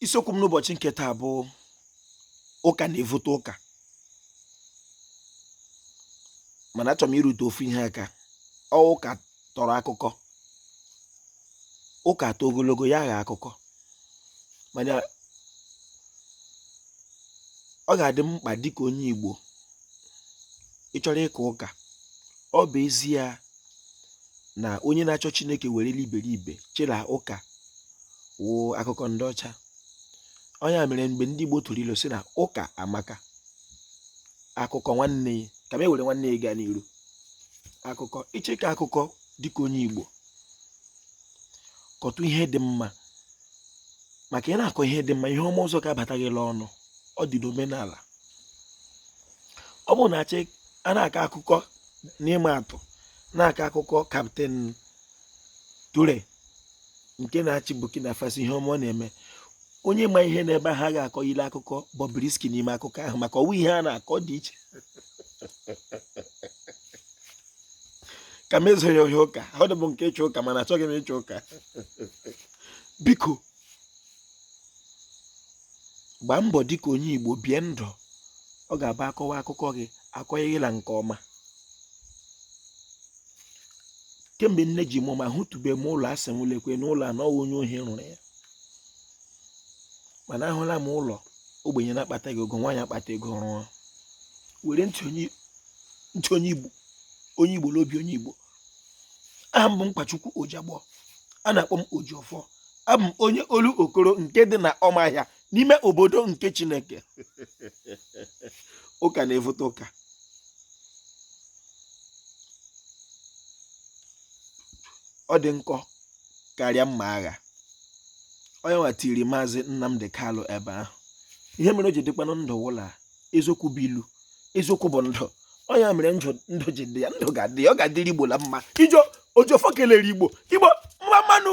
isiokwu m n'ụbọchị nke taa bụ ụka na-evute ụka mana achọrọ m ịrụtụ ofu ihe aka ọ wụ ụka tọrọ akụkọ ụka too ogologo ya aghọọ akụkọ mana ọ ga-adị m mkpa dịka onye Igbo ị chọrọ ịka ụka ọ bụ ezie na onye na-achọ chineke were iberibe chịra ụka wụ akụkọ ndị ọcha ọ ya mere mgbe ndị igbo tụrụ ilu sị na ụka amaka akụkọ nwanne ya ka m ewere nwanne ya gaa n'iru akụkọ ị chọọ ịkọ akụkọ dịka onye igbo kọtụ ihe dị mma maka ị na-akọ ihe dị mma ihe ọma ọzọ ga-abata gị n'ọnụ ọ dị n'omenala ọ bụrụ na a sị a na-akọ akụkọ n'ịma atụ na-akọ akụkọ kaptịn Ture nke na-achị Burkina Faso ihe ọma ọ na-eme onye ma ihe na ebe ha ga-akọ ile akụkọ Bobrisky n'ime akụkọ ahụ maka ọ wụ ihe a na-akọ dị iche ka m ezoghị ohi ụka ọ dịbụ nke ịchụ ụka mana achọghị m ịchụ ụka biko gbaa mbọ dịka onye Igbo bie ndụ ọ ga-abụ a kọwa akụkọ gị a kọọ gị la nke ọma kemgbe nne ji mụ m ahụtụbe m ụlọ a sị m lekwe na ụlọ a na ọ wụ onye ohi rụrụ ya mana ahụla m ụlọ ogbenye na-akpataghị ego nwa ya akpata ego rụọ were ntị onye igbo n'obi onye igbo aha m bụ nkwachukwu ojiagbọ a na-akpọ m ojiọfọ Abụ m onye Olokoro nke dị na ọmahịa n'ime obodo nke Chineke. Ụka na-evute ụka. Ọ dị nkọ karịa mma agha. Ọ ya nwa tiiri maazị Nnamdi Kanu ebe ahụ. Ihe mere o ji dịkwanụ ndụ wụ la eziokwu bụ ilu eziokwu bụ ndụ ọ ya mere ndụ ji dị ya ndụ ga-adị ya ọ ga-adịrị igbo na mma ijo ojiọfọ kelere igbo igbo mma mma nụ